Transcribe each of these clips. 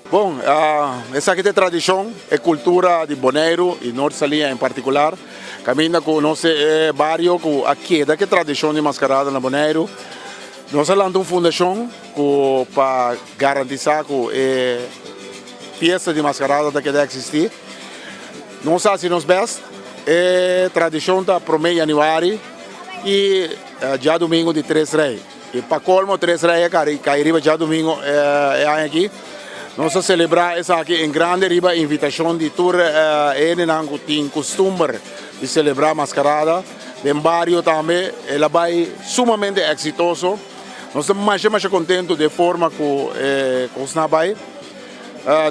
Bon esaki ta e tradicion e cultura di Boneiru y Noord Salia en particular caminda cu nos ta e bario cu a keda cu e tradicion di mascarada na Boneiru nos a lanta un fundacion cu pa garantisa cu e. Fiesta di Mascarada ta keda existi. Nos hasi nos best. E tradicion ta prome Januari y Djadomingo di Tres Rey. Y pa colmo Tres Rey a cai riba Djadomingo e aña aki. Nos a celebra esaki en grandi riba invitacion di tur hendenan cu tin custumber di celebra Mascarada den bario tambe. E la bay sumamente exitoso. Nos ta masha masha contento di e forma cu e cosnan a bay.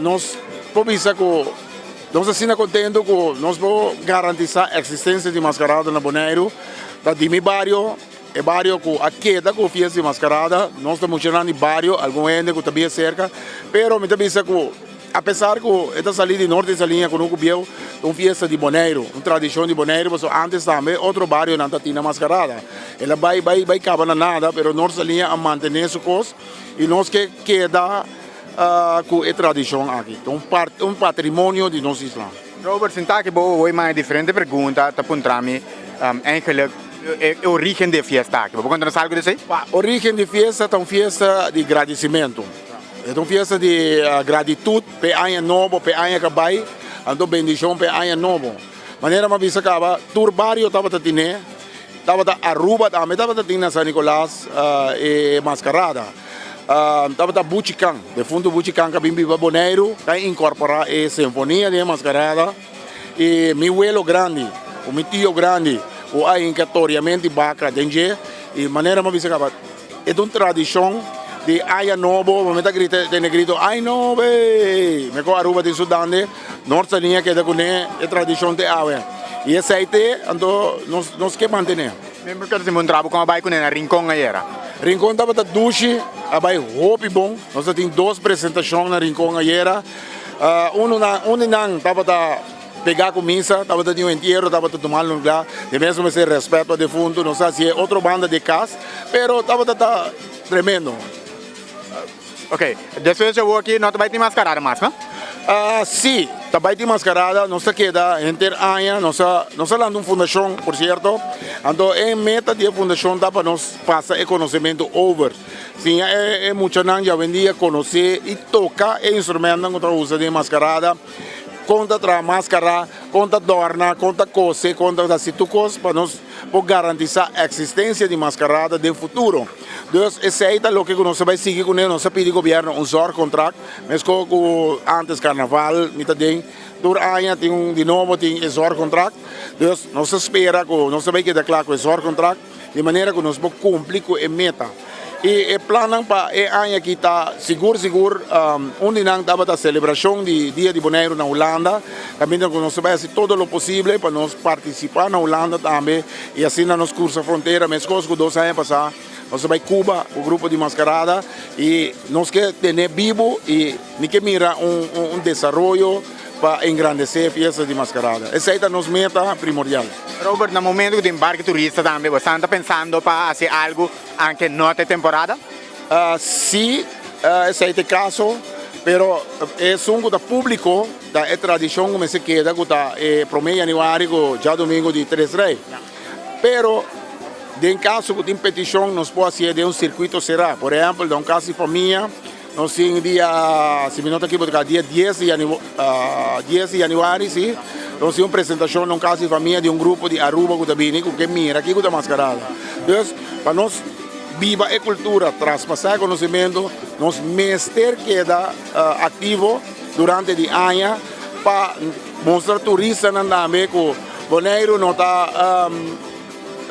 Nos por bisa cu nos asina contento cu nos por garantisa existencia di Mascarada na Boneiru, ta di mi bario, e bario cu a keda cu fiesta di Mascarada, nos ta mucha nan di bario, algun hende cu ta bien cerca, pero mi ta bisa cu apesar cu e ta sali di Norte Saliña cu no cu Bieu, ta un fiesta di Boneiru, un tradicion di Boneiru, pasobra antes tambe otro barionan ta tina Mascarada, e la bay bay bay caba na nada, pero Norte Saliña a mantene su cos. Y nos ke keda ku e tradishon aki. Ta un patrimonio di nos isla. Robert, sinta aki bo hoy maya diferente pregunta ta puntra mi eigenlik e origen di e fiesta aki. Bo por konta nos algu di esei? Origen di fiesta ta un fiesta di gradisimentu. E ta un fiesta di gratitut pa e aña nobo, pa e aña ka bai. Anto bendishon pa e aña nobo. Manera mi a bisa kaba tur bario tabata tine. Tabata Aruba ta mi tabata tin na San Nicolas e mascarada tabata Buchi Can defunto Buchi Can ta bin biba Boneiru ta incorpora e sinfonia den e mascarada y mi welo grandi cu mi tio grandi cu a hinca toriamenti baca den dje y manera mi a bisa caba E ta un tradishon di Aya Nobo, bo mi ta grita den e grito Ay Nobe! Mi ku Aruba tin su dande, nor ta ni a keda kuné e tradishon te awe. I esei te, anto nos nos ke mantené. Mi bo keda simbuntra bo kon a bai kuné na Rincon ayera? Rincon tabata dushi, a bai hopi bon. Nos a tin dos presentashon na Rincon ayera. Uno nan, un di nan tabata. Pega cu misa tabata tin un entiero tabata tuma un lugar de mesun mester respet pa defuntu no sa si e otro banda de cas pero tabata ta tremendo. Ok despues cu yo wor aki no ta bay tin mascarada mas no? Si ta bay tin mascarada nos ta keda henter aña nos a nos a lanta un fundacion por cierto anto e meta di e fundacion ta pa nos pasa e conocemento over siña e muchanan diawendia conoce y toca e instrumentonan cu ta usa den e mascarada. Kon ta traha maskará, kon ta dòrna, kon ta kose, kon ta hasi tur kos pa nos por garantisá e eksistensia di maskarada den futuro. Dus esei ta loke ku nos ta bai sigui kuné. Nos ta pidi gobièrnu un zòrg kontrakt, meskos ku ántes karnaval, mi ta den tur aña tin un di nobo tin e zòrg kontrakt. Dus nos ta spera ku nos ta bai keda kla ku e zòrg kontrakt. Di manera ku nos por kumpli ku e meta i e plannan pa e aña aki ta sigur sigur. Un di nan tabata selebrashon di Dia di Boneiru na Hulanda. Ta bintra ku nos bai hasi todo lo posible pa nos partisipá na Hulanda tambe i asina nos kursa frontera. Meskos ku dos aña pasá nos a bai Kuba ku grupo di Maskarada i nos ke tene bibu i mi ke mira un desaroyo. pa engrandece fiesta di Mascarada. Esey ta nos meta primordial. Robert, na momento cu tin barco turista tambe, bo estan ta pensando pa haci algo aunque no ta e temporada? Si, esey ta e caso, pero esun cu ta publico ta e tradicion cu mester keda cu ta e prome Januari cu Djadomingo di Tres Rey. Pero den caso cu tin peticion nos por hacié den un circuito cerá, por ehempel na un cas di famia. Nos tin dia, si mi no ta ekibo tika dia dies di dies di januari si, nos tin un presentashon na un kas di famia di un grupo di Aruba ku ta bini ku ke mira kiko ta maskarada. Dus pa nos biba e kultura, traspasá e konosementu, nos mester keda aktivo durante di aña pa mustra turistanan tambe ku Boneiru no ta.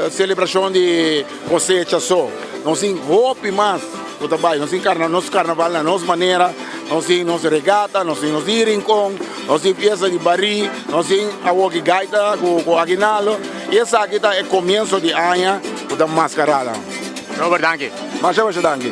Selebrashon di kosecha so. Nos tin hopi mas ku ta bai. Nos tin karna, nos karnaval na nos manera, nos tin nos regata, nos tin nos di rinkon, nos tin fiesta di barí, nos tin awo ki gaita ku aguinaldo i esaki ta e komienso di aña ku ta maskarada. Robert danki. Masha masha danki.